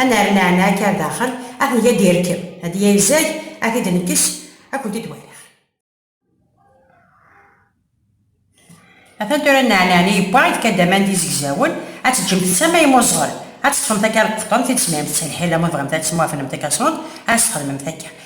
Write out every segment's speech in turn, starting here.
Ad nerr leɛna akka ar daxel, ad t-neg ad d-irkeb, ad d-yezag, ad t-id-nekkes, ad kent-id waliɣ. Atan tura nneɛneɛen i yewwa, yefka-d aman d izegzawen, ad teǧǧemt netta ma yemmuẓɣel, ad teṭṭfemt akka lqeṭṭent i d-tesmehremt s lḥila ma tebɣamt ad temwafnemt akka ṣṣnut, ad as-txedmemt akka.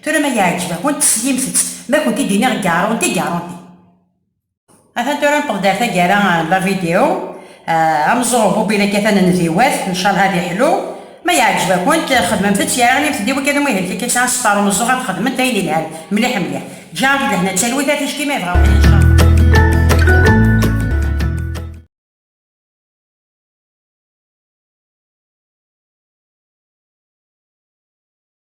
Tura ma yeɛǧeb-akent teslimt-tt, ma kent-id iniɣ gaṛunti gaṛunti. Atan tura nṭeb-d ar taggara n la vidéo, ameẓẓuɣ Bobby la kkat anen di wat, ncalha ad iḥlu. Ma yeɛǧeb-akent, xedmemt-tt yara inimt-d i wakka d umuhil kiki sɛan star umeẓẓuɣ ad xedment ayen ilhan mliḥ mliḥ. Ǧǧiɣ-ak-d lehna d talwit a ticki ma yebɣa wexxi ncallah.